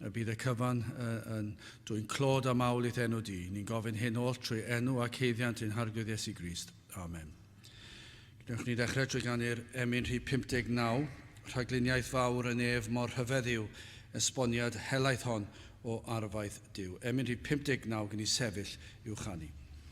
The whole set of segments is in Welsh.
A bydd y cyfan yn dwyn clod a mawl i'th enw di. Ni'n gofyn hyn oll trwy enw ac heiddiant ein Harglwydd Iesu Grist. Amen. Gwnewch ni ddechrau trwy ganu'r emyn rhif 59, rhagluniaeth fawr yn ef mor rhyfedd yw esboniad helaeth hon o arfaeth Duw. Emyn rhif 59 gyn i sefyll i'w chanu.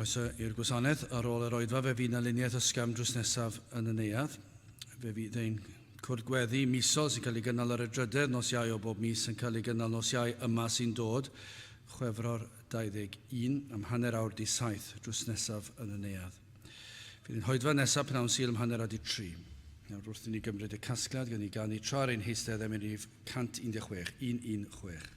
Croeso i'r gwasanaeth. Ar ôl yr oedfa fe fydd na luniaeth ysgafn drws nesaf yn y neuadd. Fe fydd ein cwrdd gweddi misol sy'n cael ei gynnal ar y drydedd nos Iau o bob mis yn cael ei gynnal nos Iau yma sy'n dod, Chwefror 21 am hanner awr di saith drws nesaf yn y neuadd. Fydd yn hoedfa nesaf pnawn syl am hanner a di tri. Nawr wrth i ni gymryd y casgliad gan ni ganu tra ar ein heistedd am enif 116, 116.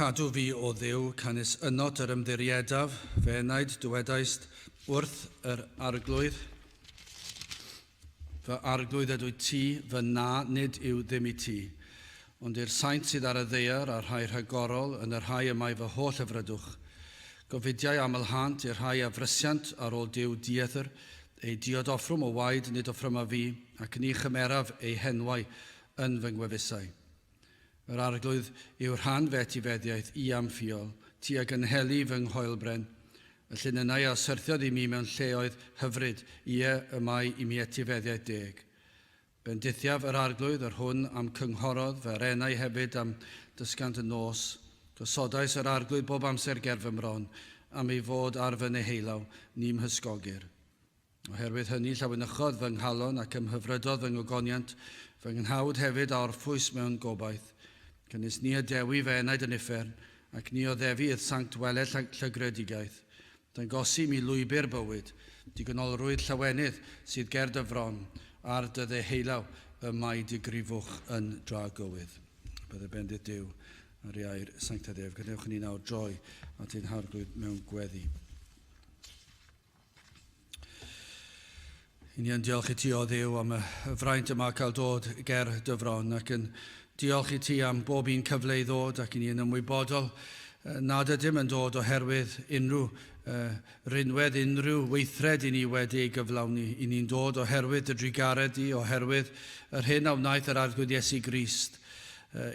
Cadw fi, o Dduw, canys ynot yr ymddiriedaf, fe enaid dywedaist wrth yr arglwydd, fy arglwydd ydw i ti, fy na, nid yw ddim i ti. Ond i'r saint sydd ar y ddaear, a'r rhai rhagorol, yn y rhai y mae fy holl hyfrydwch. Gofidiau amlhânt i'r rhai a frysiant ar ôl Duw diethr, Ei diod offrwm o waed nid offrymaf fi, ac ni chymeraf eu henwau yn fy ngwefusau. Yr arglwydd yw rhan fy etifeddiaeth i a'm ffiol, ti a gynheli fy nghoelbren, y llinynnau a syrthiodd i mi mewn lleoedd hyfryd, ie, y mae i mi etifeddiaeth deg. Bendithiaf yr Arglwydd yr hwn a'm cynghorodd fy arenau hefyd a'm dysgant y nos, gosodais yr Arglwydd bob amser ger fy mron, am ei fod ar fy neheulaw, ni 'mhysgogir. Oherwydd hynny llawenychodd fy nghalon ac ymhyfrydodd fy ngogoniant, fy nghnawd hefyd a orffwys mewn gobaith. Cynes ni y Dewi fy enaid yn uffern, ac ni oddefi i'th sanct weled llygredigaeth, Dangosim i lwybr bywyd, digonolrwydd llawenydd sydd ger dy fron, ar dy dde heilaw, y mae dy grifwch yn dra gywydd. Bydde bendith Duw ar ei air sanctaidd ef. Gadewch i ni nawr droi at ein harglwydd mewn gweddi. Yn iawn, diolch i ti o Dduw am y fraint y mae cael dod ger dy fron ac yn diolch i ti am bob un cyfle i ddod ac i ni yn ymwybodol nad ydym yn dod oherwydd unrhyw uh, rinwedd, unrhyw weithred i ni wedi ei gyflawni. I ni'n dod oherwydd dy drugaredd di, oherwydd yr hyn a wnaeth yr Arglwydd Iesu Grist.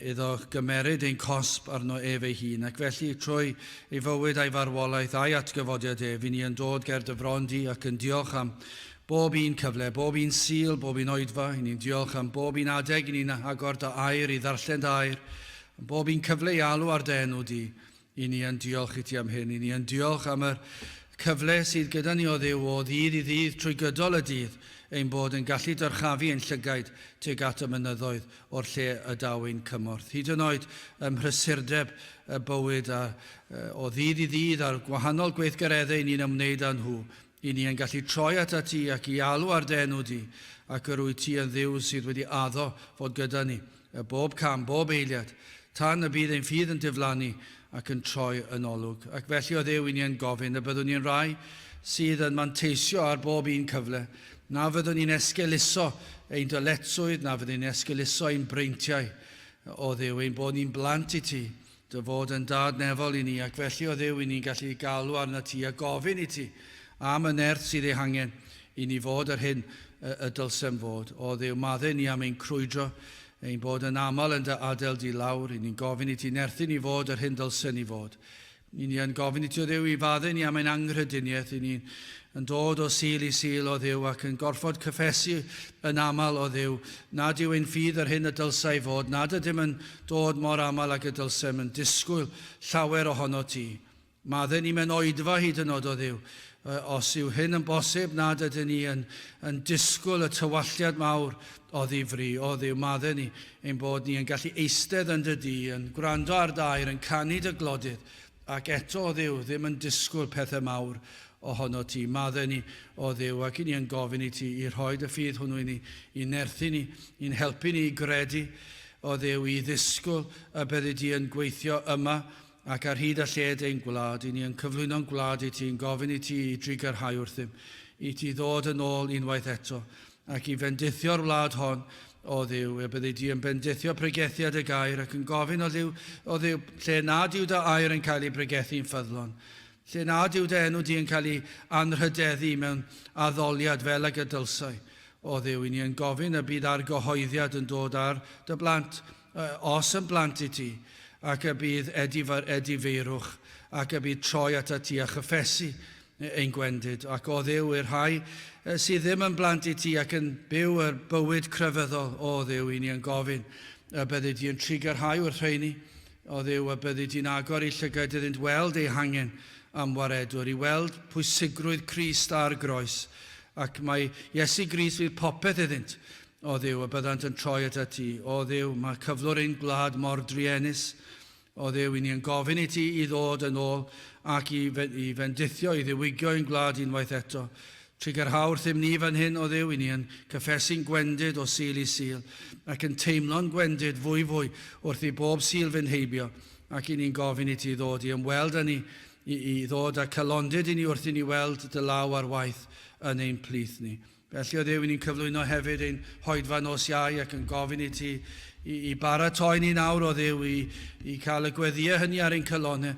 iddo gymeryd ein cosb arno ef ei hun, ac felly, trwy ei fywyd a'i farwolaeth a'i atgyfodiad ef, i ni yn dod ger dy fron di ac yn diolch am bob un cyfle, bob un Sul, bob un oedfa, i ni'n diolch am bob un adeg i ni'n agor dy air, i ddarllen dy air, am bob un cyfle i alw ar dy enw di, Y ni yn diolch iti am hyn. Y ni yn diolch am yr cyfle sydd gyda ni o Dduw o ddydd i ddydd trwy gydol y dydd, ein bod yn gallu dyrchafu ein llygaid tuag at y mynyddoedd o'r lle y daw ein cymorth. Hyd yn oed ym mhrysurdeb y bywyd a o ddydd i ddydd a'r gwahanol gweithgareddau ni'n ymwneud â nhw, Y'n ni yn gallu troi atat ti ac i alw ar dy enw di, ac yr wyt ti yn Dduw sydd wedi addo fod gyda ni, er bob cam, bob eiliad, tan y bydd ein ffydd yn diflannu ac yn troi yn olwg. Ac felly, o Dduw, y'n ni yn gofyn y byddwn ni yn rai sydd yn manteisio ar bob un cyfle, na fyddwn ni'n esgeuluso ein dyletswydd, na fyddwn ni'n esgeuluso ein breintiau, o Dduw, ein bod ni'n blant i ti, Dy fod yn Dad nefol i ni, ac felly o Dduw i ni'n gallu galw arnat ti a gofyn i ti am y nerth sydd ei hangen i ni fod yr hyn y dylsem fod. O Dduw, madde ni am ein crwydro, ein bod yn aml yn dy adael di lawr, i ni'n gofyn i ti nerthu ni fod yr hyn ddylsen ni fod. I ni yn gofyn i ti, o Dduw, i fadde ni am ein anghrediniaeth, i ni'n yn dod o Sul i Sul, o Dduw, ac yn gorfod cyffesu yn aml, o Dduw, nad yw ein ffydd yr hyn y dylsai fod, nad ydym yn dod mor aml ag y dylsem yn disgwyl llawer ohono ti. Madden ni mewn oedfa hyd yn od o Dduw. Os yw hyn yn bosib, nad ydyn ni yn, yn disgwyl y tywalliad mawr o ddifri. O Dduw, madden ni ein bod ni yn gallu eistedd yn dy du, yn gwrando ar d'air, yn canu dy glodydd, ac eto, o Dduw, ddim yn disgwyl pethau mawr ohono ti. Madden ni, o Dduw, ac i ni yn gofyn i ti i rhoi dy ffydd hwnnw i ni, i nerthu ni, i'n helpu ni i gredu, Oedd Huw i ddisgwyl y byddi di yn gweithio yma ac ar hyd a lled ein gwlad i ni yn cyflwyno'n gwlad i ti yn gofyn i ti i drigarhau wrthym i ti ddod yn ôl unwaith eto ac i fendithio'r wlad hon Oedd Huw y byddi di yn bendithio pregethiad y gair ac yn gofyn Oedd Huw Oedd Huw lle nad yw dy air yn cael ei bregethu'n ffyddlon lle nad yw dy enw di yn cael ei anrhydeddu mewn addoliad fel ag y dylsai. O Dduw, i ni yn gofyn y bydd argyhoeddiad yn dod ar dy blant, os yn blant i ti, ac y bydd edifeirwch, ac y bydd troi atat ti a chyffesu ein gwendid. Ac, o Dduw, i'r rhai sydd ddim yn blant i ti ac yn byw y bywyd crefyddol, o Dduw, i ni yn gofyn y byddi di yn trigarhau wrth rheini, Oedd yw a byddi di'n agor ei llygaid iddynt weld eu hangen am waredwr, i weld pwysigrwydd Crist a'r groes, ac mai Iesu Grist fydd popeth iddynt, oedd yw a byddant yn troi at ati. O Dduw, mae cyflwr ein gwlad mor druenus. O Dduw, i ni yn gofyn i ti i ddod yn ôl ac i fendithio, i ddiwygio ein gwlad unwaith eto. Trigger hawdd rhym ni fan hyn o Dduw, i ni yn cyffesu'n gwendid o Sul i Sul, ac yn teimlo'n gwendid fwy fwy wrth i bob Sul fynd heibio, ac i ni'n gofyn i ti ddod i ymweld â ni, i i ddod â calondid i ni wrth i ni weld dy law ar waith yn ein plith ni. Felly o Dduw, i ni'n cyflwyno hefyd ein hoedfa nos Iau ac yn gofyn i ti i i baratoi ni nawr o Dduw i i cael y gweddïau hynny ar ein calonnau,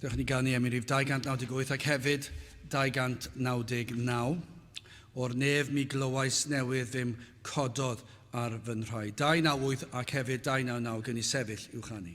Dewch i ni gael ni am i rif 298 ac hefyd 299. O'r nef mi glywais newydd ddim cododd ar fy nhraed. 298 ac hefyd 299 gyn i sefyll i'w chanu.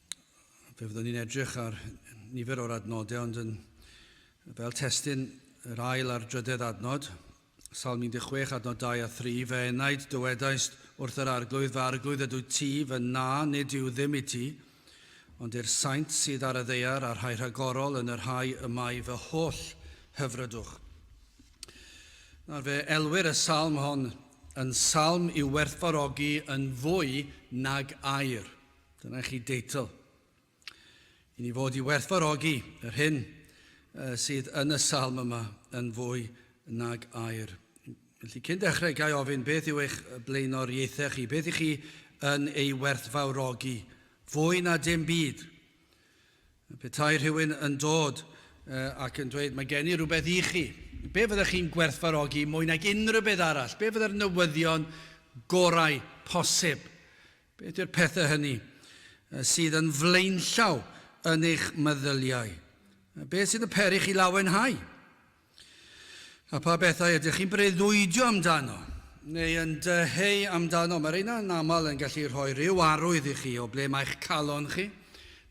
Fe fyddwn ni'n edrych ar nifer o'r adnodau, ond yn, fel testyn yr ail a'r drydedd adnod, Salm 16, adnod 2 a 3, fe enaid dywedaist wrth yr arglwydd, fe arglwydd ydw ti, fe na, nid yw ddim i ti, ond i'r saint sydd ar y ddeiar a'r rhai rhagorol yn yr rhai y mae fy holl hyfrydwch. Nawr fe elwyr y salm hon yn salm i'w werthfarogi yn fwy nag air. Dyna chi deitl i ni fod i werthfarogi yr hyn sydd yn y salm yma yn fwy nag air. Felly, cyn dechrau, gai ofyn beth yw eich blaenoriaethau chi? Beth i chi yn ei werthfawrogi? Fwy na dim byd. Petai rhywun yn dod ac yn dweud, mae gen i rhywbeth i chi, be fyddech chi'n gwerthfarogi mwy nag unrhyw beth arall? Be fydde'r newyddion gorau posib Beth yw'r pethau hynny sydd yn flaenllaw yn eich meddyliau? Beth sydd yn peri chi lawenhau? A pha bethau ydych chi'n breuddwydio amdano neu yn dyheu amdano? Mae rheina yn aml yn gallu rhoi rhyw arwydd i chi o ble mae'ch calon chi,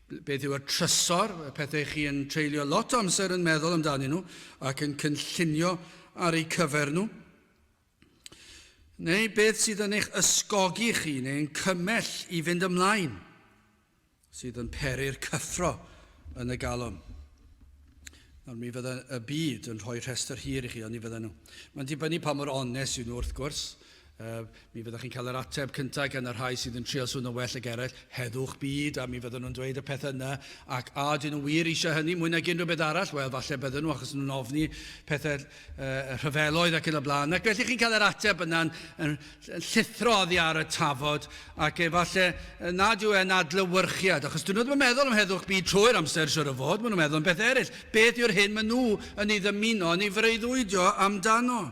beth yw y trysor, y pethau chi yn treulio lot o amser yn meddwl amdanyn nhw ac yn cynllunio ar eu cyfer nhw. Neu beth sydd yn eich ysgogi chi neu yn cymell i fynd ymlaen, sydd yn peri'r cyffro yn y galon? Nawr, mi fydda y byd yn rhoi rhestr hir i chi, ond ni fydda nhw. Mae'n dibynnu pa mor onest yw nhw, wrth gwrs. Uh, mi fyddwch chi'n cael yr ateb cyntaf gan y rhai sydd yn trio swno well ag eraill, heddwch byd, a mi fydden nhw'n dweud y peth yna, ac a dyn nhw wir eisiau hynny mwy nag unrhyw beth arall? Wel, falle bydden nhw, achos nhw'n ofni pethau y rhyfeloedd ac yn y blaen. Ac felly chi'n cael yr ateb yna'n yn llithro oddi ar y tafod ac efallai nad yw e'n adlywyrchiad, achos dyn nhw ddim yn meddwl am heddwch byd trwy'r amser siwr o fod, maen nhw'n meddwl am beth eraill. Beth yw'r hyn maen nhw yn ei ddymuno yn ei freuddwydio amdano?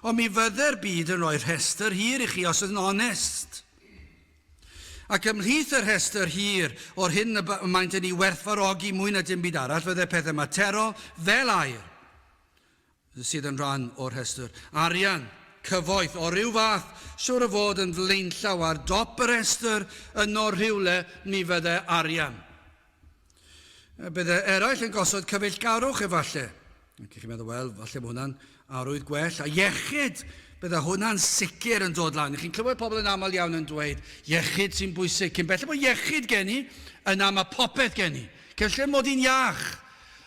Ond mi fydde'r byd yn rhoi rhestr hir i chi os yn onest. Ac ymhlith y rhestr hir o'r hyn y maent yn ei werthfarogi mwy na dim byd arall fydde pethau materol fel air, sydd yn rhan o'r rhestr, arian, cyfoeth o ryw fath, siŵr o fod yn flaenllaw ar dop y rhestr yno rhywle, mi fydde arian. Bydde eraill yn gosod cyfeillgarwch efallai. Ac chi'n meddwl, wel, falle bod hwnna'n arwydd gwell. A iechyd, bydde hwnna'n sicr yn dod lan. Chi'n clywed pobl yn aml iawn yn dweud, iechyd sy'n bwysig. Cyn belled bod iechyd gen i, yna mae popeth gen i. Cyn lle mod i'n iach,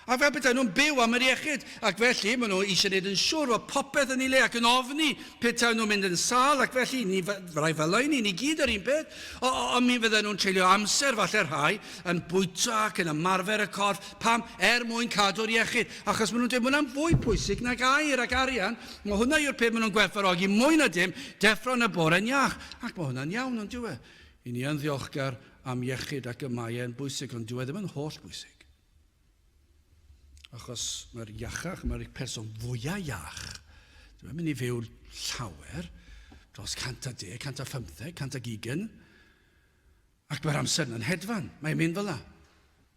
A fel petai nhw'n byw am yr iechyd, ac felly maen nhw eisiau gwneud yn siŵr fod popeth yn ei le ac yn ofni petaen nhw'n mynd yn sâl, ac felly ni fyddai felai ni, ni gyd yr un peth, o, o, ond mi fydden nhw'n treulio amser, falle rhai, yn bwyta ac yn ymarfer y corff. Pam? Er mwyn cadw'r iechyd. Achos maen nhw'n dweud, mae hwnna'n fwy pwysig nag aer ac arian, mae hwnna yw'r peth maen nhw'n gwerthfawrogi mwy na dim, deffro yn y bore'n iach. Ac mae hwnna'n iawn, on'd yw e? Y ni yn ddiolchgar am iechyd ac y mae e'n bwysig, ond dyw e ddim yn holl bwysig. Achos mae'r iachach, mae'r person fwyaf iach, ddim yn mynd i fyw llawer, dros 110, 115, 120, ac mae'r amser yna'n hedfan. Mae'n mynd fel yna.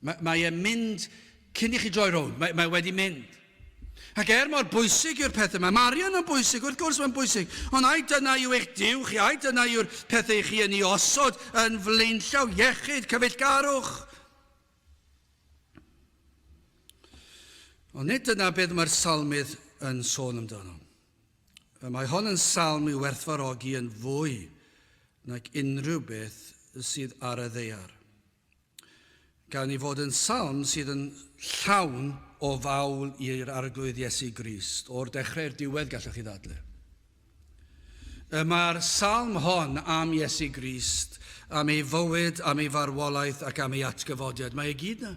Mae, mae e'n mynd cyn i chi droi rownd. Mae, mae wedi mynd. Ac er mor bwysig yw'r pethau yma, Marion yn bwysig, wrth gwrs mae'n bwysig, ond ai dyna yw eich diw chi, ai dyna yw'r pethau chi yn ei osod yn flaenllaw iechyd, cyfeillgarwch, Ond nid dyna beth mae'r salmydd yn sôn amdano. Y mae hon yn salm i'w werthfarogi yn fwy nag unrhyw beth sydd ar y ddeiar. Gan i fod yn salm sydd yn llawn o fawl i'r Arglwydd Iesu Grist, o'r dechrau i'r diwedd gallwch chi ddadle. Y mae'r salm hon am Iesu Grist, am ei fywyd, am ei farwolaeth ac am ei atgyfodiad. Mae e gyd na.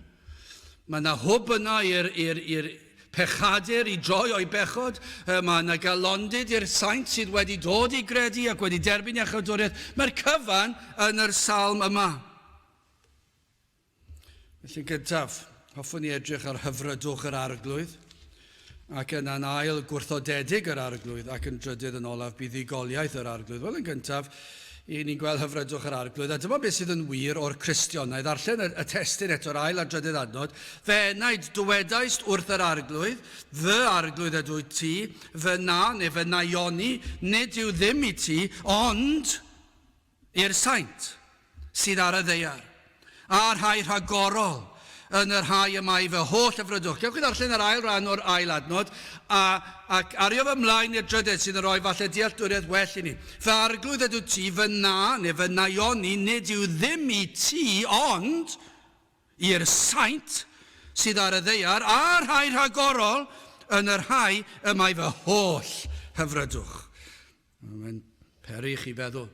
Mae yna hwb yna i'r pechadur i droi o'i bechod. Y mae yna galondid i'r saint sydd wedi dod i gredu ac wedi derbyn iachawdwriaeth. Mae'r cyfan yn yr salm yma. Felly gyntaf, hoffwn i edrych ar hyfrydwch yr Arglwydd, ac yna'n ail, gwrthodedig yr Arglwydd, ac yn drydydd, yn olaf, buddugoliaeth yr Arglwydd. Wel, yn gyntaf, i ni'n gweld hyfrydwch yr Arglwydd, a dyma beth sydd yn wir o'r Cristion. Na i ddarllen y, y testyn eto'r ail a drydydd adnod. Fe enaid, dywedais wrth yr Arglwydd, fy Arglwydd ydw ti, fy na, neu fy naioni, nid yw ddim i ti, ond i'r saint sydd ar y ddaear, a rhai rhagorol yn y rhai y mae fy holl y frydwch. Gewch chi ddarllen yr ail ran o'r ail adnod, a, ac ario fy mlaen i'r drydedd sydd yn rhoi falle dealltwriaeth well i mi. Fy arglwydd ydyw ti, fy na, neu fy naioni, nid yw ddim i ti, ond i'r saint sydd ar y ddaear, a rhai rhagorol yn y rhai y mae fy holl hyfrydwch. Mae'n peri i chi feddwl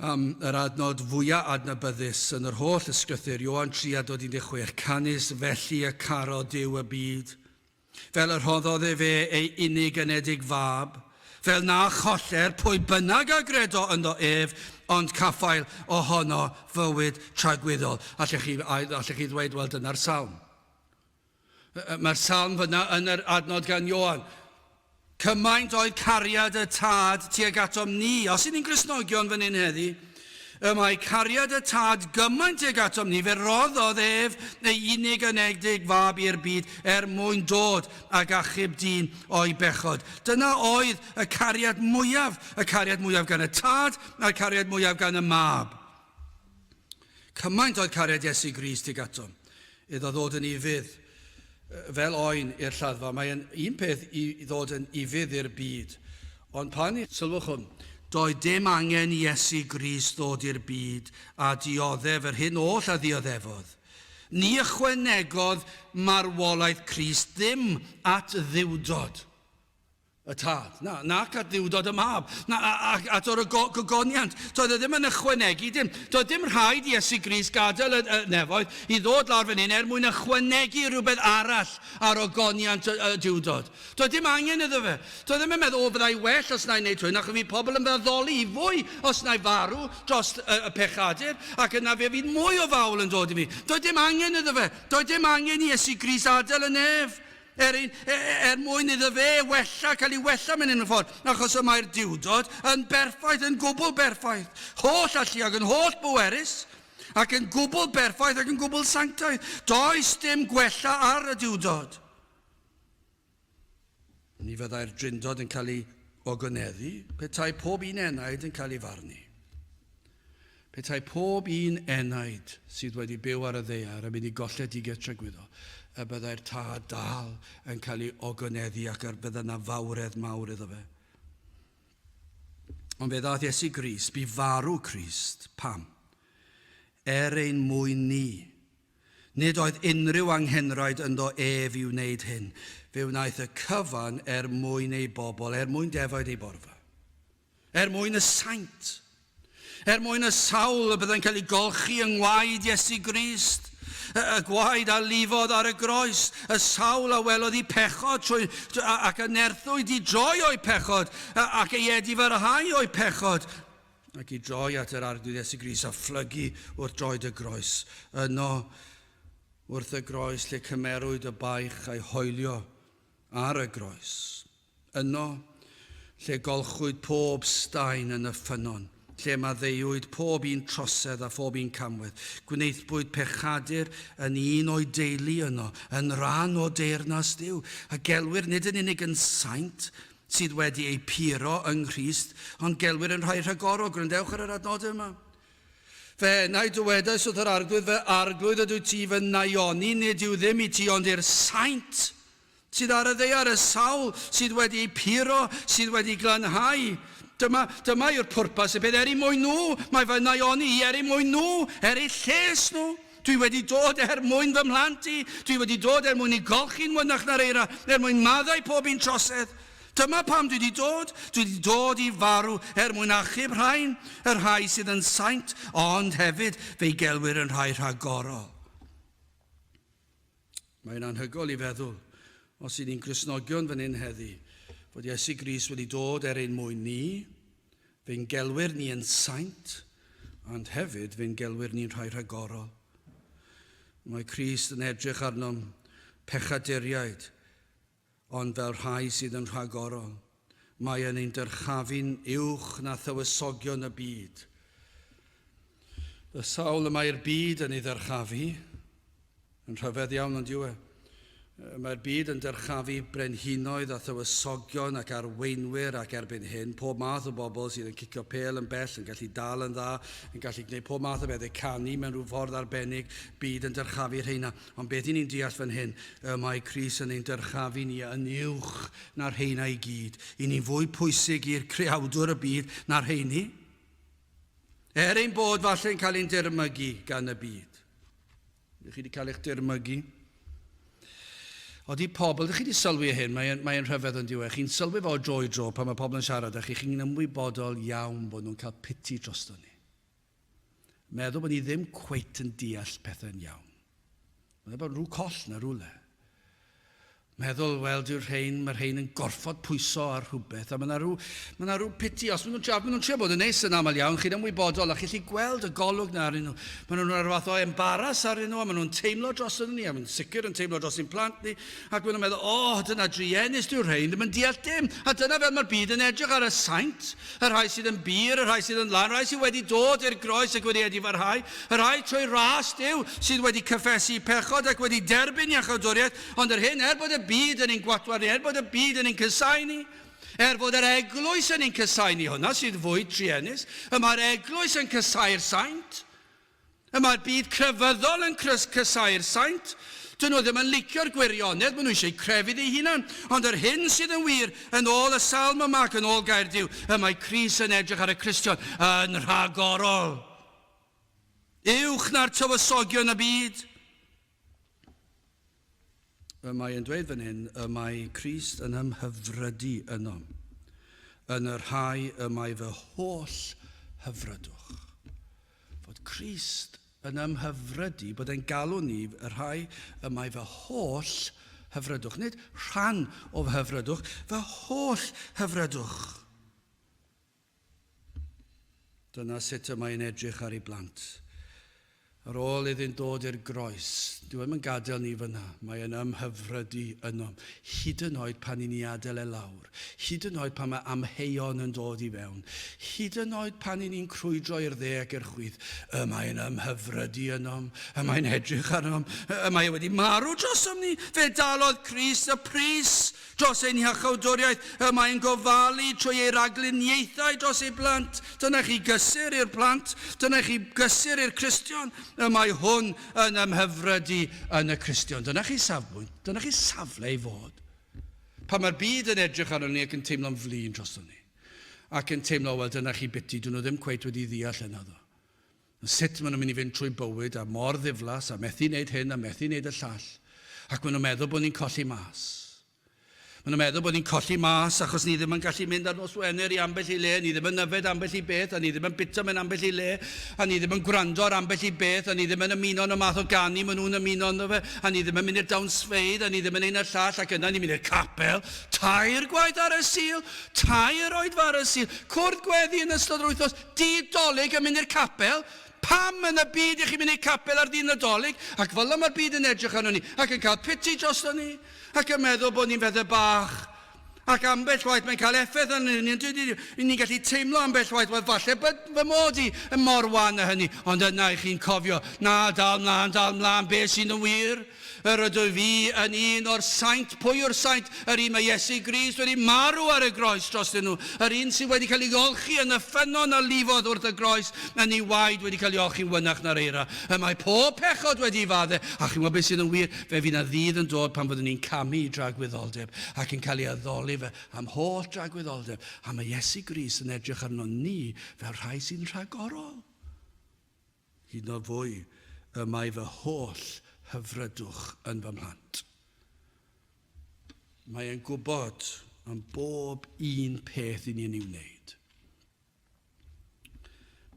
am yr adnod fwyaf adnabyddus yn yr holl ysgrythyr, Ioan 3 a dod 16, Canys felly y caro Duw y byd, fel y rhoddodd e fe ei unig anedig fab, fel na choller pwy bynnag a gredo ynddo ef, ond caffael ohono fywyd tragwyddol. Allech chi, allech chi ddweud, wel dyna'r salm. Mae'r salm fyna yn yr adnod gan Ioan. Cymaint oedd cariad y tad tuag atom ni, os y'n ni'n Gristnogion fan hyn heddi, y mae cariad y tad gymaint tuag atom ni, fe roddodd ef ei unig anedig fab i'r byd er mwyn dod ag achub dyn o'i bechod. Dyna oedd y cariad mwyaf, y cariad mwyaf gan y tad a'r cariad mwyaf gan y mab. Cymaint oedd cariad Iesu Grist tuag atom, iddo ddod yn ufudd fel oen i'r lladdfa. Mae'n un peth i ddod yn ufudd i'r byd, ond pan y. Sylwch hwn, Doedd dim angen i Iesu Grist ddod i'r byd a dioddef yr hyn oll a ddioddefodd. Ni ychwanegodd marwolaeth Crist ddim at dduwdod. y tad, na, nac at ddiwdod y mab, na, ac at o'r gogoniant. Doedd e ddim yn ychwanegu dim. Doedd dim rhaid i Iesu Grist gadael y, y nefoedd i ddod lawr fan hyn er mwyn ychwanegu rhywbeth arall ar ogoniant y, y diwdod. Doedd dim angen iddo fe. Doedd ddim yn meddwl, o, byddai well os na'i wneud hyn, ac fi pobl yn fy addoli i fwy os na'i farw dros y, y pechadur, ac yna fe fydd mwy o fawl yn dod i mi. Doedd dim angen iddo fe. Doedd dim angen i Iesu Grist adael y nef. er yn, er mwyn iddo fe wella, cael ei wella mewn unrhyw ffordd, achos y mae'r Duwdod yn berffaith, yn gwbl berffaith, holl allu ac yn holl bwerus, ac yn gwbl berffaith ac yn gwbl sanctaidd. Does dim gwella ar y Duwdod. Ni fyddai'r Drindod yn cael ei ogoneddu petai pob un enaid yn cael ei farnu. Petai pob un enaid sydd wedi byw ar y ddaear yn mynd i golled digartref gwyddo, y byddai'r tad dal yn cael ei ogonedddu ac yr bydda na fawredd mawr iddo fe. Ond fe ddaeth Iesu Grist, bu farw Crist, pam? Er ein mwyn ni. Nid oedd unrhyw anghenraid ynddo ef i wneud hyn. Fe wnaeth y cyfan er mwyn ei bobl, er mwyn defaid ei borfa. Er mwyn y saint. Er mwyn y sawl y byddai'n cael ei golchi yng ngwaed Iesu Grist, y, y gwaed a lifodd ar y groes, y sawl a welodd i pechod trwy, ac a nerthwyd i droi o'i pechod, ac ei edifarhau o'i pechod, ac i droi at yr Arglwydd Iesu Grist a phlygu wrth droed y groes. Yno, wrth y groes lle cymerwyd y baich a'i hoelio ar y groes. Yno, lle golchwyd pob staen yn y ffynnon, lle maddeuwyd pob un trosedd a phob un camwedd, gwnaethpwyd pechadur yn un o'i deulu yno, yn rhan o deyrnas Duw, a gelwir nid yn unig yn saint, sydd wedi eu puro yng Nghrist, ond gelwir yn rhai rhagorol, gwrandewch ar yr adnodau yma. Fe enai dywedais wrth yr Arglwydd, fy Arglwydd, ydw ti fy naioni, nid yw ddim i ti ond i'r saint, sydd ar y ddaear, y sawl sydd wedi eu puro, sydd wedi glanhau. Dyma, dyma yw'r pwrpas, y peth er i mwyn nhw, mae fy naioni i er i mwyn nhw, er eu lles nhw. Dwi wedi dod er mwyn fy mhlant i, dwi wedi dod er mwyn i golchi'n mwynach na'r eira, er mwyn maddau pob un trosedd. Dyma pam dwi wedi dod, dwi wedi dod i farw, er mwyn achub rhain, y rhai sydd yn saint, ond hefyd fe'i gelwir yn rhai rhagorol. Mae'n anhygoel i feddwl, os y'n ni'n Gristnogion fan hyn heddi, fod Iesu Grist wedi dod er ein mwyn ni, fe'n gelwyr ni yn saint, and hefyd fe'n gelwyr ni'n rhai rhagorol. Mae Crist yn edrych arnom pechaduriaid Ond fel rhai sydd yn rhagorol, mae yn ein dyrchafu'n uwch na thywysogion y byd. Y sawl y mae'r byd yn ei ddyrchafu, yn rhyfedd iawn ond yw e, mae'r byd yn dyrchafu brenhinoedd a thywysogion ac arweinwyr ac erbyn hyn, pob math o bobl sydd yn cicio pel yn bell, yn gallu dal yn dda, yn gallu gwneud pob math o bethau, canu mewn rhyw ffordd arbennig, byd yn dyrchafu rheina. Ond beth i ni'n deall fan hyn, y mae Cris yn ein dyrchaf i ni yn uwch na'r rheina i gyd. I ni'n fwy pwysig i'r creawdwr y byd na'r rheini. Er ein bod falle'n cael ein dirmygu gan y byd. Ydych chi wedi cael eich dirmygu? Oeddi pobl, ydych chi wedi sylwi hyn, mae'n mae rhyfedd yn diwedd. Chi'n sylwi fo dro i dro pan mae pobl yn siarad â chi, chi'n ymwybodol iawn bod nhw'n cael piti drosto ni. meddwl bod ni ddim cweit yn deall pethau'n iawn. Mae'n bod rhyw coll na rhywle. Meddwl, wel, dyw'r rhain, mae'r rhain yn gorfod pwyso ar rhywbeth, a mae yna rhyw, mae yna rhyw piti, os maen nhw'n trio, maen nhw'n trio bod yn neis yn aml iawn, chi'n ymwybodol, a chi'n lli gweld y golwg na arnyn nhw. Maen nhw'n rhoi rhyw fath o embaras arnyn nhw, a maen nhw'n teimlo dros ni, a maen nhw'n sicr yn teimlo dros ein plant ni, Ac maen nhw'n meddwl, 'O, dyna druenus, dyw'r rhein ddim yn deall dim. A dyna fel mae'r byd yn edrych ar y saint, y rhai sydd yn bur, y rhai sydd yn lân, y rhai sydd wedi dod i'r groes ac wedi edifarhau, y rhai trwy ras Duw sydd wedi cyffesu pechod ac wedi derbyn iachawdwriaeth, ond yr hyn, er bod y byd yn ein gwatwar ni, er bod y byd yn ein casáu ni, er fod yr eglwys yn ein casáu ni, hwnna sydd fwy truenus, y mae'r eglwys yn casáu'r saint. Y mae'r byd crefyddol yn crys casáu'r saint. Dyn nhw ddim yn licio'r gwirionedd, maen nhw eisiau crefydd eu hunan. Ond yr hyn sydd yn wir, yn ôl y salm yma ac yn ôl gair Duw, y mae Cris yn edrych ar y Cristion yn rhagorol. Uwch na'r tywysogion y byd. Y mae yn dweud fan hyn y mae Crist yn ymhyfrydu ynom, yn y rhai y mae fy holl hyfrydwch. Fod Crist yn ymhyfrydu, bod e'n galw ni y rhai y mae fy holl hyfrydwch, nid rhan o fy hyfrydwch, fy holl hyfrydwch. Dyna sut y mae hi'n edrych ar ei blant. Ar ôl iddynt ddod i'r groes, dyw e ddim yn gadael ni fan'na, mae e'n ymhyfrydu ynom, hyd yn oed pan i ni adael e lawr, hyd yn oed pan mae amheuon yn dod i fewn, hyd yn oed pan i ni'n crwydro i'r dde ac i'r chwith, y mae e'n ymhyfrydu ynom, y mae e'n edrych arnom, y mae e wedi marw drosom ni! Fe dalodd Crist y pris! Dros ein hiachawdwriaeth y mae'n gofalu trwy ei ragluniaethau dros ei blant. Dyna chi gysur i'r plant. Dyna chi gysur i'r Cristion. Y mae hwn yn ymhyfryd i yn y Cristion. Dyna chi safbwynt. Dyna chi safle i fod. Pan mae'r byd yn edrych arno ni ac yn teimlo'n flin drosto ni. Ac yn teimlo, wel, dyna chi biti, dyn nhw ddim cweit wedi ddeall hyn, addo. sut maen nhw'n mynd i fynd trwy bywyd a mor ddiflas a methu wneud hyn a methu wneud y llall ac maen nhw'n meddwl bod ni'n colli mas. Maen nhw'n meddwl bod ni'n colli mas achos ni ddim yn gallu mynd ar nos Wener i ambell i le, ni ddim yn yfed ambell i beth a ni ddim yn bwyta mewn ambell i le a ni ddim yn gwrando ar ambell i beth a ni ddim yn ymuno yn y math o ganu maen nhw'n ymuno ynddo fe a ni ddim yn mynd i'r dawnsfeydd a ni ddim yn ein y llall ac yna ni'n mynd i'r capel tair gwaith ar y Sul, tair oedfa ar y Sul, cwrdd gweddi yn ystod yr wythnos, Dy Dolig yn mynd i'r capel? Pam yn y byd i chi mynd i'r capel ar ddydd Nadolig? Ac fel y mae'r byd yn edrych arnon ni, ac yn cael piti drosto ni, ac yn meddwl bod ni'n bethau bach, ac ambell waith mae'n cael effaith arnyn ni, yndydy, ry'n ni'n gallu teimlo ambell waith, wel falle bod fy mod i yn mor wan â hynny, ond yna i chi'n cofio, na, dal mlaen, dal mlaen, be sydd yn wir? Yr ydw fi yn un o'r saint. Pwy yw'r saint? Yr un mae Iesu Grist wedi marw ar y groes drostyn nhw. Yr un sydd wedi cael ei olchi yn y ffynnon a lifodd wrth y groes, yn ei waed wedi cael ei olchi'n wynach na'r eira. Y mae pob pechod wedi ei fadde. A chi'n gwybod beth sydd yn wir? Fe fydd 'na ddydd yn dod pan fyddwn ni'n camu i dragwyddoldeb ac yn cael ei addoli fe am holl dragwyddoldeb. A mae Iesu Grist yn edrych arnon ni fel rhai sy'n rhagorol. Hyd nod fwy, y mae fy holl hyfrydwch yn fy mhlant. Mae e'n gwybod am bob un peth i ni yn ei wneud.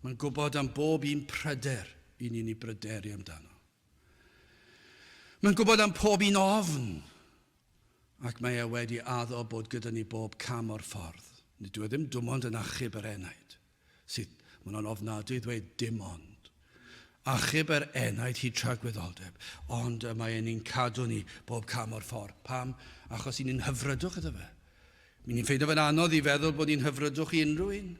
Mae'n gwybod am bob un pryder i ni'n ei bryderu amdano. Mae'n gwybod am pob un ofn, ac mae e wedi addo bod gyda ni bob cam o'r ffordd. Nid yw e ddim dim ond yn achub yr enaid. Sydd, maen nhw'n ofnadwy i ddweud dim ond. Achub yr enaid hyd tragwyddoldeb, ond y mae e'n ni'n cadw ni bob cam o'r ffordd. Pam? Achos i ni'n hyfrydwch iddo fe. Mi ni'n ffeindio fe'n anodd i feddwl bod ni'n hyfrydwch i unrhyw un.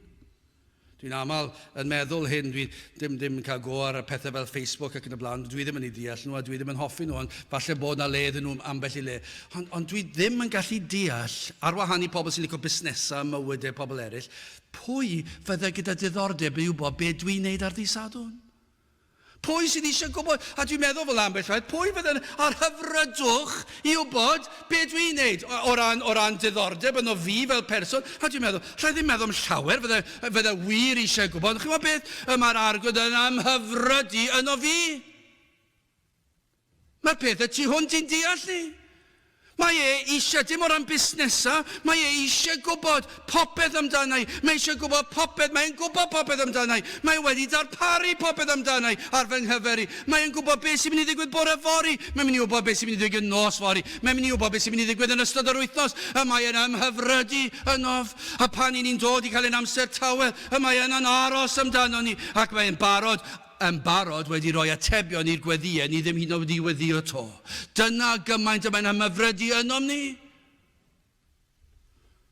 Dwi'n aml yn meddwl hyn, dwi ddim ddim yn cael go ar y pethau fel Facebook ac yn y blaen, dwi ddim yn eu deall nhw a dwi ddim yn hoffi nhw ond falle bod na le iddyn nhw ambell i le. Ond, ond dwi ddim yn gallu deall, ar wahân i pobl sy'n licio busnesau a mywydau pobl eraill, pwy fydde gyda diddordeb i wybod be dwi'n neud ar ddydd Sadwrn? Pwy sydd eisiau gwybod? A dwi'n meddwl fel ambell rhaid, pwy fydd yn â'r hyfrydwch i wybod be dwi'n ei wneud o ran, o ran diddordeb yno fi fel person? A dwi'n meddwl, alla i ddim meddwl am llawer fydda, fydda wir eisiau gwybod. Chi'n gwybod beth? Y mae'r arglwydd yn a'm hyfryd i yno fi. Mae'r peth y tu hwnt i'n deall ni. Mae e eisiau, dim o ran busnesau, mae e eisiau gwybod popeth amdana i. Mae e eisiau gwybod popeth, mae e'n gwybod popeth amdana i. Mae e wedi darparu popeth amdana i ar fy nghyfer i. Mae e'n gwybod beth sy'n mynd i ddigwydd bore yfory, mae'n mynd i wybod beth sy'n mynd i ddigwydd nos fory, mae'n mynd i wybod beth sy'n mynd i ddigwydd yn ystod yr wythnos, y mae e'n ymhyfrydu ynof, a pan 'yn ni'n dod i cael ein amser tawel, y mae yna'n aros amdano ni, ac mae e'n barod, yn barod wedi rhoi atebion i'r gweddïau ni ddim hyd yn oed wedi weddïo 'to. Dyna gymaint y mae'n ymhyfrydu ynom ni.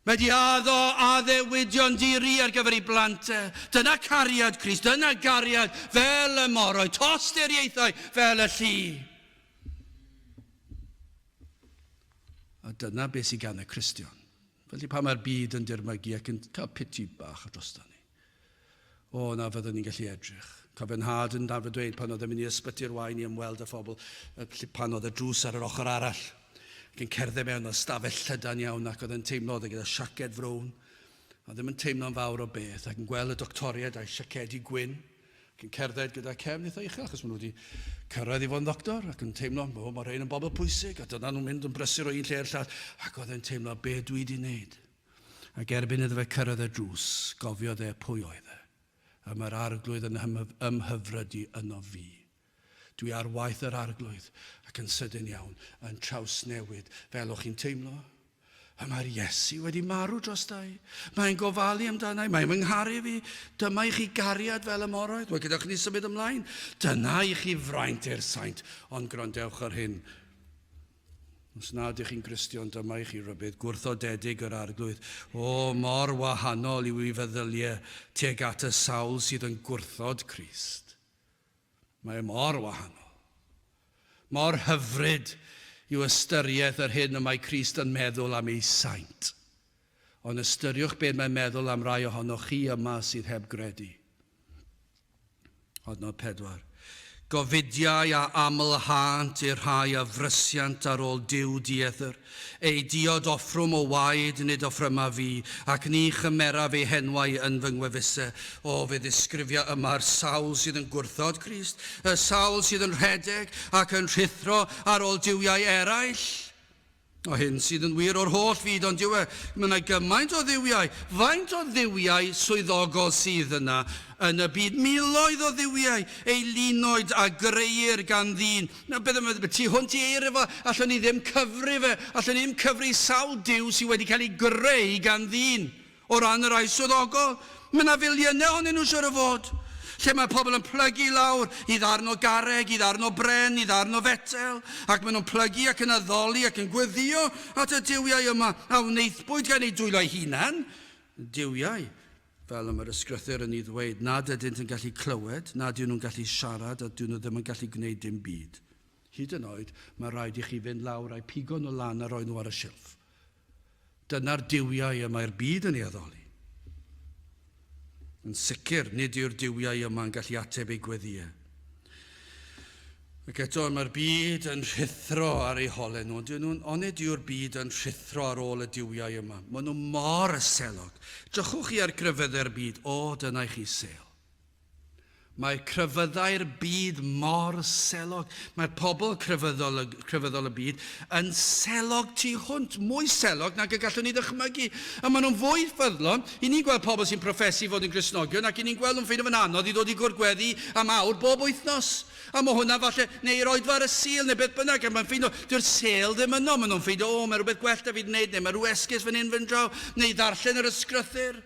Mae wedi addo addewidion di-ri ar gyfer ei blant e. Dyna cariad Crist, dyna gariad fel y moroi, tosturiaethau fel y llu. A dyna beth sydd gan y Cristion. Felly pan mae'r byd yn dirmygu ac yn cael piti bach drosto ni, O, na fyddwn ni'n gallu edrych. Cofio nhad yn arfer dweud pan oedd e'n mynd i ysbyty'r wain i ymweld â phobl, felly pan oedd y drws ar yr ochr arall, ac yn cerdded mewn â stafell llydan iawn ac oedd e'n teimlo oedd e gyda siaced frown, a ddim yn teimlo'n fawr o beth, ac yn gweld y doctoriaid a'u siacedi gwyn, ac yn cerdded gyda cefn eitha uchel achos maen nhw wedi cyrraedd i fod yn ddoctor ac yn teimlo, o, mae rhain yn bobl pwysig, a dyna nhw'n mynd yn brysur o un lle i'r llall, ac oedd e'n teimlo, be dwi wedi wneud? Ac erbyn iddo fe cyrraedd y drws, gofiodd e pwy oedd e. A mae'r Arglwydd yn ymhyfrydu ynof fi. Dwi ar waith yr Arglwydd, ac yn sydyn iawn, yn trawsnewid, fel o'ch chi'n teimlo. A mae'r Iesu wedi marw drosta i. Mae e'n gofalu amdana i. Mae e'n fy ngharu fi. Dyma i chi gariad fel y moroedd. Wel, gadewch i ni symud ymlaen. Dyna i chi fraint i'r saint. Ond gwrandewch ar hyn. Os na ydych chi'n Gristion, dyma i chi rybudd gwrthodedig yr Arglwydd. O, mor wahanol yw ei feddyliau tuag at y sawl sydd yn gwrthod Crist. Mae e mor wahanol. Mor hyfryd yw ystyriaeth yr hyn y mae Crist yn meddwl am ei saint. Ond ystyriwch beth mae'n meddwl am rai ohonoch chi yma sydd heb gredu. Adnod 4. Gofidiau a aml-hânt i'r rhai a frysiant ar ôl Duw dieddyr, eu diod offrwm o waed nid offryma fi, ac ni chymeraf eu henwau yn fy ngwefuse. O, fe ddisgrifia yma'r sawl sydd yn gwrthod Crist, y sawl sydd yn rhedeg ac yn rhuthro ar ôl duwiau eraill. O hyn sydd yn wir o'r holl fyd, ond yw e, mae yna gymaint o dduwiau. Faint o dduwiau swyddogol sydd yna yn y byd? Miloedd o dduwiau, eu linoed a grëir gan ddyn. Na, beth am y tu hwnt i eiriau fo? Allwn ni ddim cyfri fe. Allwn ni ddim cyfri sawl duw sydd wedi cael ei greu gan ddyn. O ran y rhai swyddogol, mae 'na filiynau ohonyn nhw siŵr o fod, lle mae pobl yn plygu i lawr, i ddarn o garreg, i ddarn o bren, i ddarn o fetel, ac maen nhw'n plygu ac yn addoli ac yn gweddïo at y duwiau yma a wnaethpwyd gan eu dwylo'u hunain, duwiau, fel y mae'r Ysgrythur yn ei ddweud, nad ydynt yn gallu clywed, nad yw nhw'n gallu siarad a 'dyn nhw ddim yn gallu gwneud dim byd. Hyd yn oed, mae rhaid i chi fynd lawr a'u pigo nhw lan a rhoi nhw ar y silff. Dyna'r duwiau y mae'r byd yn ei addoli. Yn sicr, nid yw'r duwiau yma yn gallu ateb ei gweddïau. Ac eto, mae'r byd yn rhuthro ar ei holau nhw, ond nhw'n onid yw'r byd yn rhuthro ar ôl y duwiau yma? Maen nhw mor selog. Drychwch chi ar gryfeddau'r byd, o, dyna i chi sêl. Mae crefyddau'r byd mor selog. Mae pobl crefyddol y, crefyddol y byd yn selog tu hwnt, mwy selog nag y gallwn ni ddychmygu. A maen nhw'n fwy ffyddlon. I ni'n gweld pobl sy'n proffesu fod yn Gristnogion ac i ni'n gweld nhw'n ffeindio fe'n anodd i ddod i gwrdd gweddi am awr bob wythnos. A mae hwnna falle, neu i'r oedfa ar y Sul, neu beth bynnag, ac mae'n ffeindio, dyw'r sêl ddim yno. Maen nhw'n ffeindio, o, mae rhywbeth gwell da fi wneud, neu mae rhyw esgus fan hyn, fan draw, neu ddarllen yr ysgrythyr.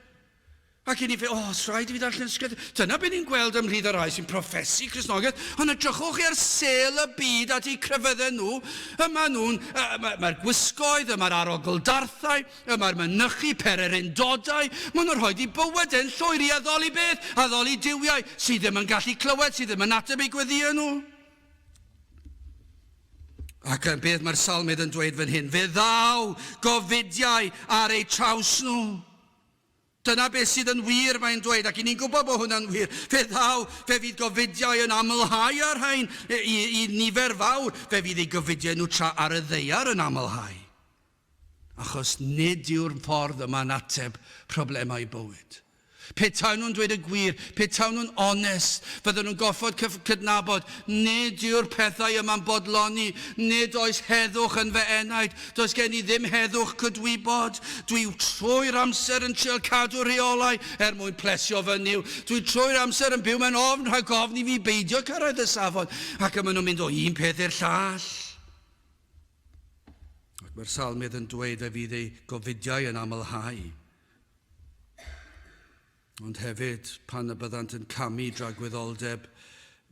Ac yn ife, os rhaid i fi ddarllen sgert, dyna be ni'n gweld ymhlith y rhai sy'n profesi Cristnogaeth, ond edrychwch chi ar sêl y byd at eu crefydden nhw, y maen nhw'n, y, y mae'r gwisgoedd, y mae'r arogl-darthau, y mae'r mynychu pererindodau, maen nhw'n rhoi i bywyd e'n llwyr i addoli beth? Addoli duwiau sydd ddim yn gallu clywed, sydd ddim yn ateb eu gweddïau nhw. Ac yn beth mae'r salmydd yn dweud fan hyn, fe ddaw gofidiau ar eu traws nhw. Dyna beth sydd yn wir, mae'n dweud, ac i ni'n gwybod bod hwnna'n wir. Fe ddaw, fe fydd gofidiau yn amlhau â'r rhain i, i nifer fawr, fe fydd ei gofidiau nhw tra ar y ddeiar yn amlhau. Achos nid yw'r ffordd yma'n ateb problemau bywyd. Pe tawn nhw'n dweud y gwir, pe tawn nhw'n onest, fydden nhw'n gorfod cydnabod, nid yw'r pethau yma'n bodloni, nid oes heddwch yn fy enaid, Does gen i ddim heddwch cydwybod. Dwi trwy'r amser yn trial cadw rheolau er mwyn plesio fy Nuw. Dwi trwy'r amser yn byw mewn ofn rhag ofn i fi beidio cyrraedd y safon. Ac y maen nhw'n mynd o un peth i'r llall. Ac mae'r salmydd yn dweud fe fydd ei gofidiau yn amlhau. ond hefyd pan y byddant yn camu dragwyddoldeb,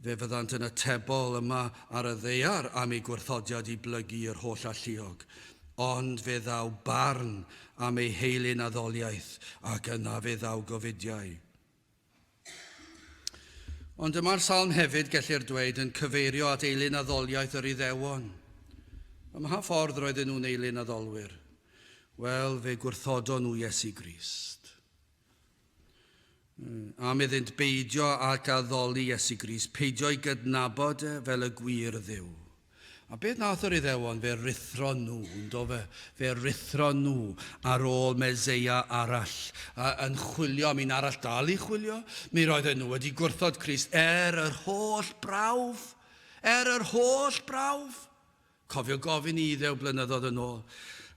fe fyddant yn atebol yma ar y ddaear am eu gwrthodiad i blygu yr holl alluog, ond fe ddaw barn am eu heilun a ddoliaeth, ac yna fe ddaw gofidiau. Ond y mae'r salm hefyd, gellir dweud, yn cyfeirio at eilun a ddoliaeth yr Iddewon. Ym mha ffordd roedden nhw'n eilun a ddolwyr? Wel, fe gwrthodon nhw Iesu Grist. Am iddynt beidio ac addoli Iesu Grist, peidio i gydnabod e fel y gwir dduw. A beth nath yr Iddewon? Fe ruthro nhw, yndo fe? Fe ruthro nhw ar ôl Meseia arall, a yn chwilio am un arall, dal i chwilio. Mi roedden nhw wedi gwrthod Crist er yr holl brawf. Er yr holl brawf. Cofio gofyn i Ddew blynyddoedd yn ôl,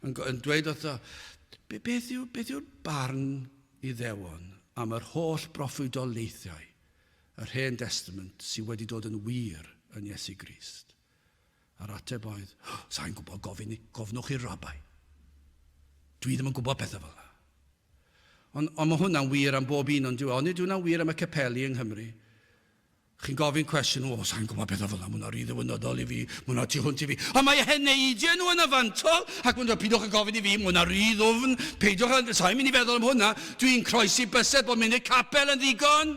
yn, yn dweud wrtho, be, beth yw'r beth yw barn Iddewon am yr holl broffwydoliaethau yr Hen Destament sydd wedi dod yn wir yn Iesu Grist? A'r ateb oedd, oh, sa'n gwybod gofyn, gofnwch i'r rabai. Dwi ddim yn gwybod pethau fel yna. Ond, ond mae hwnna'n wir am bob un o'n diwy. Ond nid hwnna'n wir am y capeli yng Nghymru. Chi'n gofyn cwestiwn, o, sai'n gwybod beth o fel 'na, ma' hwnna'n rhy ddiwinydol i fi, ma' hwnna tu hwnt i fi. Ond mae e'n neidio nhw yn y fantol, ac maen nhw'n dweud, peidiwch â gofyn i fi, ma' hwnna'n rhy ddwfn, peidiwch â, sai'n mynd i feddwl am hwnna, dwi'n croesi bysedd bod munud capel yn ddigon.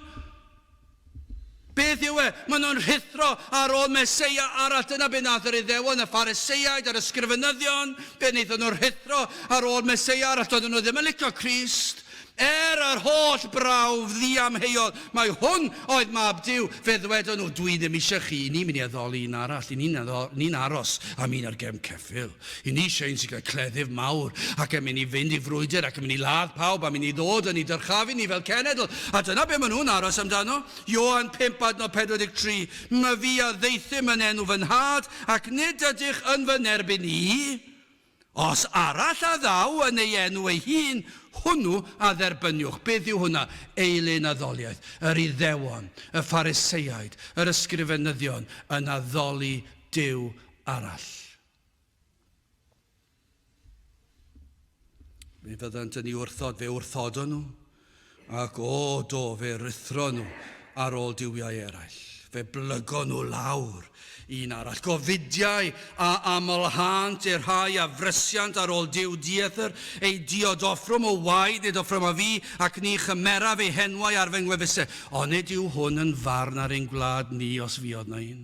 Beth yw e? Maen nhw'n rhuthro ar ôl Meseia arall. Dyna be wnaeth yr Iddewon, y Phariseiaid a'r Ysgrifenyddion. Fe wnaethon nhw rhuthro ar ôl Meseia arall. Doedden nhw ddim yn licio Crist. Er yr holl brawf ddiamheuol, mai hwn oedd mab Duw, fe ddwedon nhw, Dwi ddim eisiau chi, i ni'n mynd i addoli un arall, i ni'n aros am un ar gefn ceffyl. I ni eisiau un sy'n cael cleddyf mawr, ac yn mynd i fynd i frwydr, ac yn mynd i ladd pawb, a mynd i ddod yn ei dyrchafu ni fel cenedl. A dyna be maen nhw'n aros amdano. Ioan pump adnod 43, Myfi a ddeithum yn enw fy Nhad, ac nid ydych yn fy nerbyn i, Os arall a ddaw yn ei enw ei hun, hwnnw a dderbyniwch. Beth yw hwnna? Eilun addoliaeth, yr Iddewon, y Phariseaid, yr Ysgrifenyddion, yn addoli Duw arall. Mi fyddant yn ei wrthod, fe wrthodon nhw, Ac, o, do, fe ruthron nhw ar ôl duwiau eraill. Fe blygon nhw lawr un arall. Gofidiau a aml-hânt i'r rhai a frysiant ar ôl Duw dieithr, eu diod offrwm o waed nid offrwm a fi, ac ni chymeraf eu henwau ar fy ngwefusau. Onid yw hwn yn farn ar ein gwlad ni os fuodd 'na un?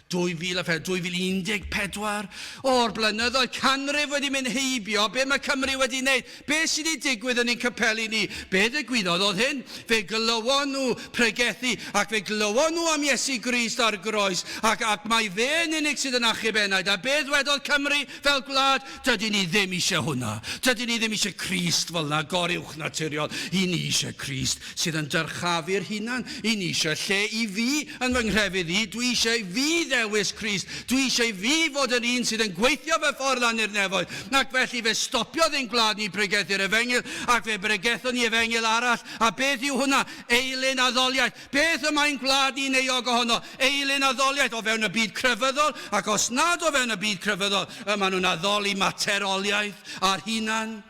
2004, 2014, o'r blynyddoedd canrif wedi mynd heibio, be mae Cymru wedi wneud, be sydd wedi digwydd yn ein capeli ni, be ddigwyddodd oedd hyn, fe glywon nhw pregethu, ac fe glywon nhw am Iesu Grist ar groes, ac, ac mae fe yn unig sydd yn achub enaid, a be ddwedodd Cymru fel gwlad, dydyn ni ddim eisiau hwnna, dydyn ni ddim eisiau Crist fel yna, goruwchnaturiol, i ni eisiau Crist sydd yn dyrchafu'r hunan i ni eisiau lle i fi yn fy nghrefydd i, dwi eisiau i fi ddewis Crist, dwi eisiau i fi fod yr un sydd yn gweithio fy ffordd lan i'r nefoedd, ac felly fe stopiodd ein gwlad ni bregethu'r efengyl, ac fe bregethon ni efengyl arall, a beth yw hwnna? Eilun addoliaeth! Beth y mae'n gwlad ni'n euog ohono? Eilun addoliaeth o fewn y byd crefyddol, ac os nad o fewn y byd crefyddol, y maen nhw'n addoli materoliaeth a'r hunan.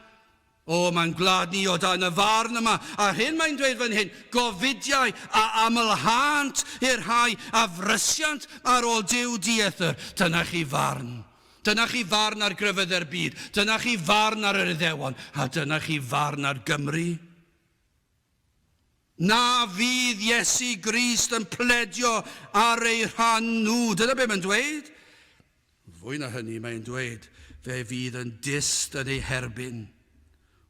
O, mae'n gwlad ni o dan y farn yma, a'r hyn mae'n dweud fan hyn, gofidiau a amlhânt i'r rhai a frysiant ar ôl Duw dieithr, dyna chi farn. Dyna chi farn ar grefyddau'r byd, dyna chi farn ar yr Iddewon, a dyna chi farn ar Gymru. Na fydd Iesu Grist yn pledio ar eu rhan nhw. Dyna be mae'n dweud. Fwy na hynny, mae'n dweud, fe fydd yn dyst yn eu herbyn.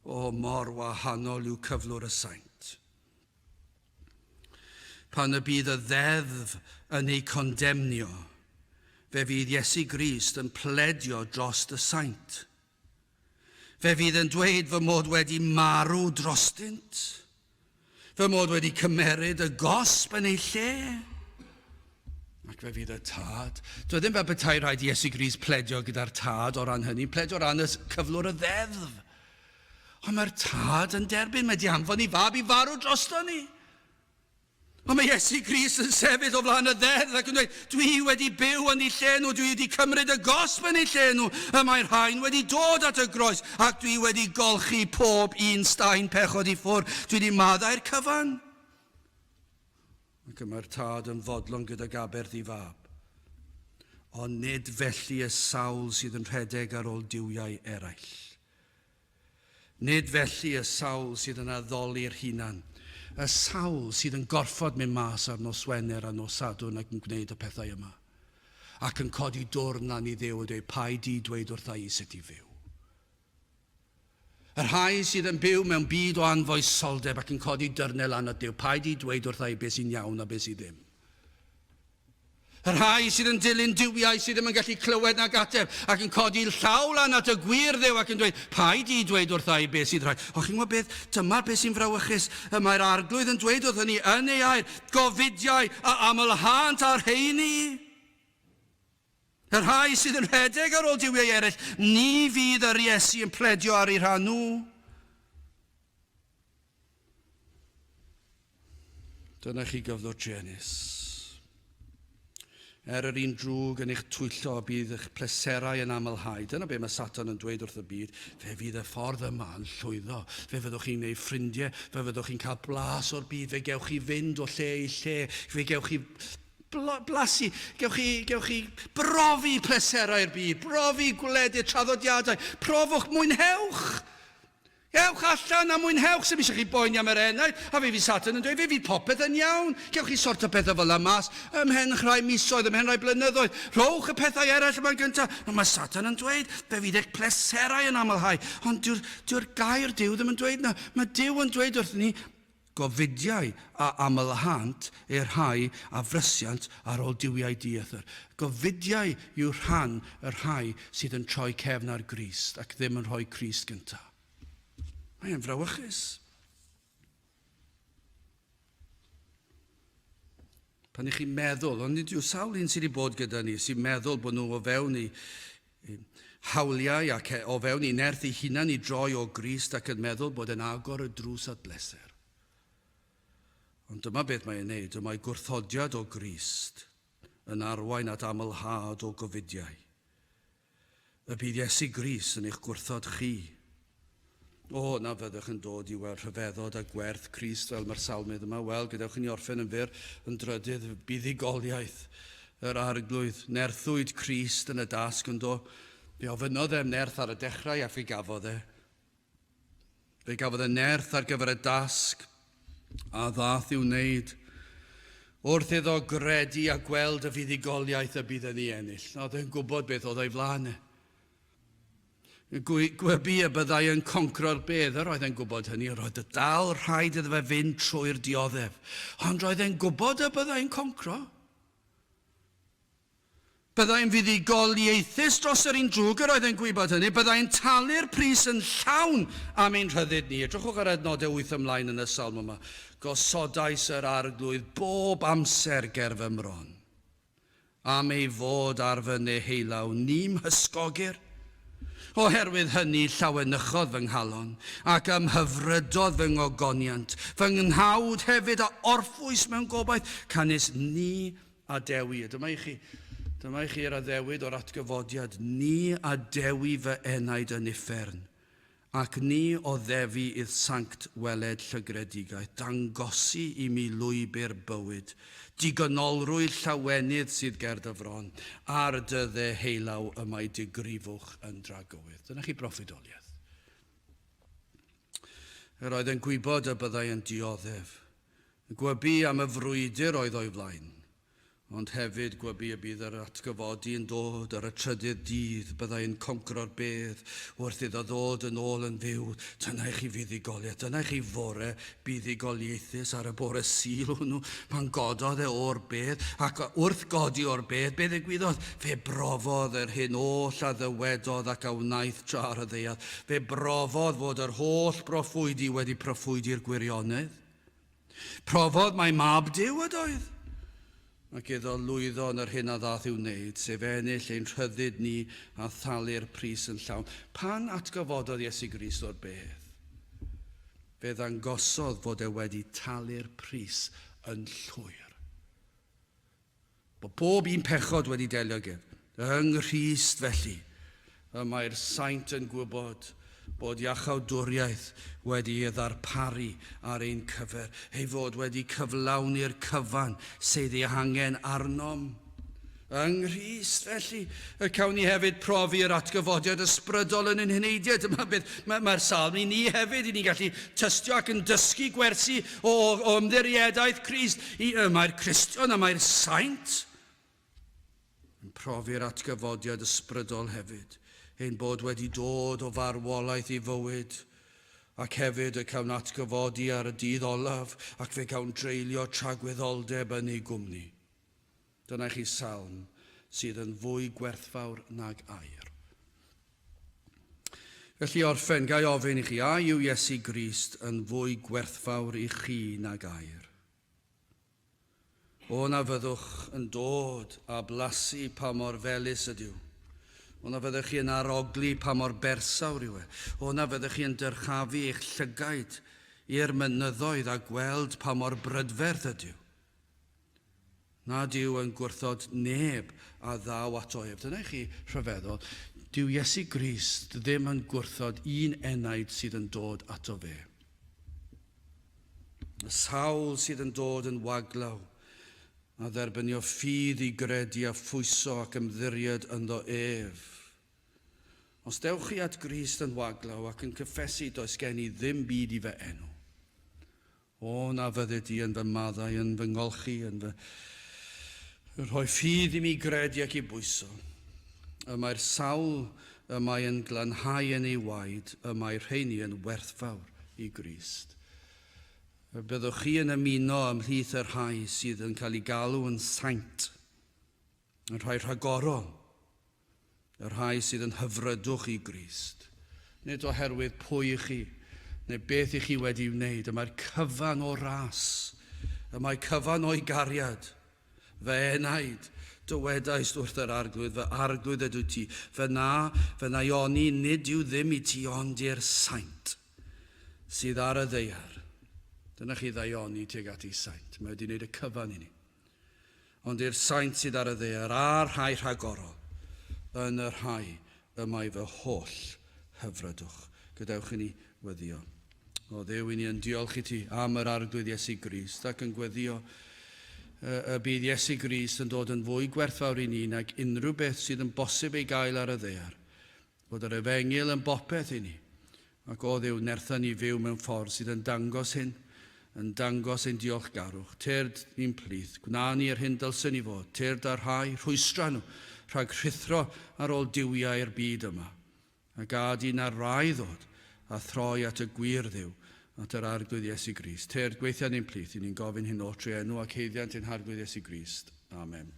O, mor wahanol yw cyflwr y saint. Pan y bydd y ddeddf yn eu condemnio, fe fydd Iesu Grist yn pledio dros y saint. Fe fydd yn dweud fy mod wedi marw drostynt, fy mod wedi cymeryd y gosb yn ei lle. Ac fe fydd y tad. Dwi ddim fel bethau rhaid i Iesu Gris pledio gyda'r tad o ran hynny, pledio ran y cyflwr y ddeddf. Ond mae'r tad yn derbyn, mae di anfon i fab i farw drosto ni. Ond mae Iesu Grist yn sefyll o flaen y ddeddf ac yn dweud, Dwi wedi byw yn eu lle nhw, dwi wedi cymryd y gosb yn eu lle nhw, y mae'r rhain wedi dod at y groes, ac dwi wedi golchi pob un staen pechod i ffwrdd, dwi wedi maddau'r cyfan. Ac y mae'r tad yn fodlon gydag aberth i fab. Ond nid felly y sawl sydd yn rhedeg ar ôl duwiau eraill. Nid felly y sawl sydd yn addoli'r hunan, y sawl sydd yn gorfod mynd mas ar nos Wener a nos Sadwrn ac yn gwneud y pethau yma, ac yn codi dwrn lan i Dduw a dweud, Paid di dweud wrtha i sut i fyw. Y rhai sydd yn byw mewn byd o anfoesoldeb ac yn codi dyrnau lan at Dduw, paid di dweud wrtha i beth sy'n iawn a beth sydd ddim. Y rhai sydd yn dilyn duwiau sydd ddim yn gallu clywed nac ateb ac yn codi llaw lan at y gwir ddew ac yn dweud, paid i dweud wrtha i beth sydd rhaid. Ond chi'n gwybod beth? Dyma'r beth sy'n frawychus. Y mae'r Arglwydd yn dweud wrthyn ni yn ei air, gofidiau a amlhânt â'r rheini. Y rhai sydd yn rhedeg ar ôl duwiau eraill, ni fydd yr Iesu yn pledio ar eu rhan nhw. Dyna chi gyfnod Janice. Er yr un drwg yn eich twyllo y bydd eich pleserau yn amlhau. Dyna be mae Satan yn dweud wrth y byd. Fe fydd y ffordd yma yn llwyddo. Fe fyddwch chi'n gwneud ffrindiau. Fe fyddwch chi'n cael blas o'r byd. Fe gewch chi fynd o lle i lle. Fe gewch chi blasu. Gewch chi, gewch chi brofi pleserau'r byd. Brofi gwledydd, traddodiadau. Profwch, mwynhewch! Ewch allan a mwynhewch, sdim isio chi boeni am yr enaid, a fe fydd Satan yn dweud fe fydd popeth yn iawn, gewch chi sort o bethau fela mas ymhen rhai misoedd, ymhen rhai blynyddoedd, rhowch y pethau eraill yma'n gyntaf, nawr mae Satan yn dweud fe fydd eich pleserau yn amlhau, ond dyw'r, dyw'r gair Duw ddim yn dweud na, mae Duw yn dweud wrthyn ni, Gofidiau a amlâhant eu rhai a frysiant ar ol duwiau dieithr. Gofidiau yw rhan y rhai sydd yn troi cefn ar Grist ac ddim yn rhoi Crist gynta. Mae e'n frawychus. Pan i chi'n meddwl, ond nid yw sawl un sydd wedi bod gyda ni sy'n meddwl bod nhw o fewn i ein hawliau ac e o fewn ei nerth ei hunan i droi o Grist ac yn meddwl bod e'n agor y drws at bleser. Ond dyma beth mae e'n neud, y mae gwrthodiad o Grist yn arwain at amlhad o gofidiau. Y bydd Iesu Gris yn eich gwrthod chi O, na fyddwch yn dod i weld rhyfeddod a gwerth Crist fel mae'r salmydd yma, wel, gadewch i ni orffen yn fyr, yn drydydd, buddugoliaeth yr Arglwydd. Nerthwyd Crist yn y dasg, ond o, fe ofynnodd e'r nerth ar y dechrau a fe gafodd e. Fe gafodd y nerth ar gyfer y dasg a ddath i'w wneud wrth iddo gredu a gweld y fuddugoliaeth y bydd yn ei ennill. Oedd e'n gwybod beth oedd o'i flaen e. Gwybu y byddai yn concro'r bedd, yr oedd e'n gwybod hynny, yr oedd y dal rhaid iddo fe fynd trwy'r dioddef, ond roedd e'n gwybod y byddai'n concro. Byddai'n fuddugoliaethus dros yr un drwg, yr oedd e'n gwybod hynny, byddai'n talu'r pris yn llawn am ein rhyddid ni. Edrychwch ar adnodau wyth ymlaen yn y salm yma. Gosodais yr arglwydd bob amser ger fy mron. am ei fod ar fy neheullaw ni'm hysgogyr. Oherwydd hynny llawenychodd fy nghalon, ac ymhyfrydodd fy ngogoniant, fy nghnawd hefyd, a orffwys mewn gobaith, canys ni adewi, a dyma i chi, dyma i chi yr addewid o'r atgyfodiad, ni adewi fy enaid yn uffern, Ac ni oddefi i'r sanct weled llygredigaeth dangosi i mi lwybr bywyd, digonolrwydd llawenydd sydd ger dy fron, ar dy dde heilaw y mae dy grifwch yn dragywydd. Dyna chi broffwydoliaeth. Yr oedd yn gwybod y byddai yn dioddef. Gwybu am y frwydr oedd o'i flaen. Ond hefyd gwybu y bydd yr atgyfodi yn dod ar y trydydd dydd, byddai yn conquro'r bedd, wrth iddo ddod yn ôl yn fyw. Dyna i chi fuddugoliaeth, dyna i chi fore buddugoliaethus ar y bore Sul hwnnw, pan gododd e o'r bedd, ac wrth godi o'r bedd, be ddigwyddodd? Fe brofodd yr hyn oll a ddywedodd ac a wnaeth tra ar y ddaear. Fe brofodd fod yr holl broffwydi wedi proffwydi'r gwirionedd. Profodd mai Mab Duw ydoedd. Ac iddo lwyddo yn yr hyn a ddath i'w wneud, sef ennill ein rhyddid ni a thalu'r pris yn llawn, pan atgyfododd Iesu Grist o'r bedd, fe ddangosodd fod e wedi talu'r pris yn llwyr. Mae pob un pechod wedi delio gyf yng Nghrist felly y mae'r saint yn gwybod bod iachawdwriaeth wedi ei ddarparu ar ein cyfer, ei fod wedi cyflawni'r cyfan sydd ei hangen arnom. Yng Nghrist felly y cawn ni hefyd profi yr atgyfodiad ysbrydol yn ein heneidiau. Dyma beth mae'r Salm i ni hefyd, i ni gallu tystio ac yn dysgu gwersi O, o ymddiriedaeth Crist, y mae'r Cristion a mae'r Saint yn profi'r atgyfodiad ysbrydol hefyd, ein bod wedi dod o farwolaeth i fywyd, ac hefyd y cawn atgyfodi ar y dydd olaf, ac fe gawn dreulio tragwyddoldeb yn ei gwmni. Dyna chi salm sydd yn fwy gwerthfawr nag aur. Felly i orffen, ga i ofyn i chi, a yw Iesu Grist yn fwy gwerthfawr i chi nag aur? O na fyddwch yn dod a blasu pa mor felus ydyw. O na fyddech chi yn arogli pa mor bersawr yw e. O na fyddech chi yn dyrchafu eich llygaid i'r mynyddoedd a gweld pa mor brydferth ydyw. nad yw yn gwrthod neb a ddaw ato ef. Dyna i chi rhyfeddol, dyw Iesu Grist ddim yn gwrthod un enaid sydd yn dod ato fe. Y sawl sydd yn dod yn waglaw, a dderbynio ffydd i gredu a phwyso ac ymddiried ynddo ef. Os dewch chi at Grist yn waglaw ac yn cyffesu does gen i ddim byd i fy enw, O, na fyddi di yn fy maddau, yn fy ngolchi, yn fy rhoi ffydd i mi gredu ac i bwyso. Y mae'r sawl y mae yn glanhau yn ei waed, y mae rheini yn werthfawr i Grist. Y byddwch chi yn ymuno ymhlith y rhai sydd yn cael ei galw yn saint. Y rhai rhagorol, y rhai sydd yn hyfrydwch i Grist, nid oherwydd pwy i chi, neu beth i chi wedi'i wneud, y mae'r cyfan o ras, y mae cyfan o'i gariad. Fy enaid, dywedaist wrth yr Arglwydd, fy Arglwydd ydw ti, fy na, fy na i oni nid yw ddim i ti ond i'r saint sydd ar y ddeiar. Dyna chi ddaioni tuag at ei saint, mae wedi wneud y cyfan i ni. ond i'r saint sydd ar y ddear a'r rhai rhagorol, yn y rhai y mae fy holl hyfrydwch. Gadewch i ni weddio. O ddew i ni yn diolch i ti am yr arglwydd Iesu Grist ac yn gweddio y bydd Iesu Grist yn dod yn fwy gwerthfawr i ni nag unrhyw beth sydd yn bosib ei gael ar y ddear, Bod yr Efengyl yn bopeth i ni, ac o Dduw nertha ni fyw mewn ffordd sydd yn dangos hyn, yn dangos ein diolchgarwch. Tyrd ni'n plith, gwna ni yr hyn dylsen ni fod, tyrd â'r rhai, rhwystra nhw, rhag rhuthro ar ôl duwiau'r byd yma, a gad i na'r rai ddod a throi at y gwir Dduw, at yr Arglwydd Iesu Grist. Tyrd gweithia ni'n plith, i ni'n gofyn hyn o'ch trwy enw ac haeddiant ein Harglwydd Iesu Grist. Amen.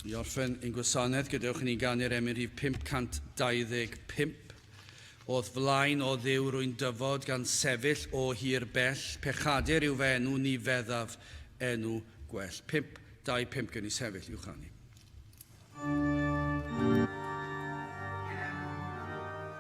I orffen ein gwasanaeth, gadewch i ni ganu'r emyn rhif 525. O'th flaen o dduw rwy'n dyfod gan sefyll o hir bell, pechadur yw fy enw ni feddaf enw gwell. 525 gen i sefyll i'w chanu.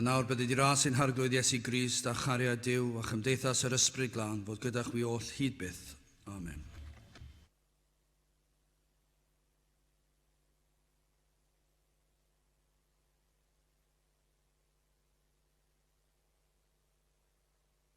A nawr bydd wedi ras ein harglwydd Iesu Grist a chariad Dyw a chymdeithas yr Ysbryd Glân fod gyda chwi oll hyd byth. Amen.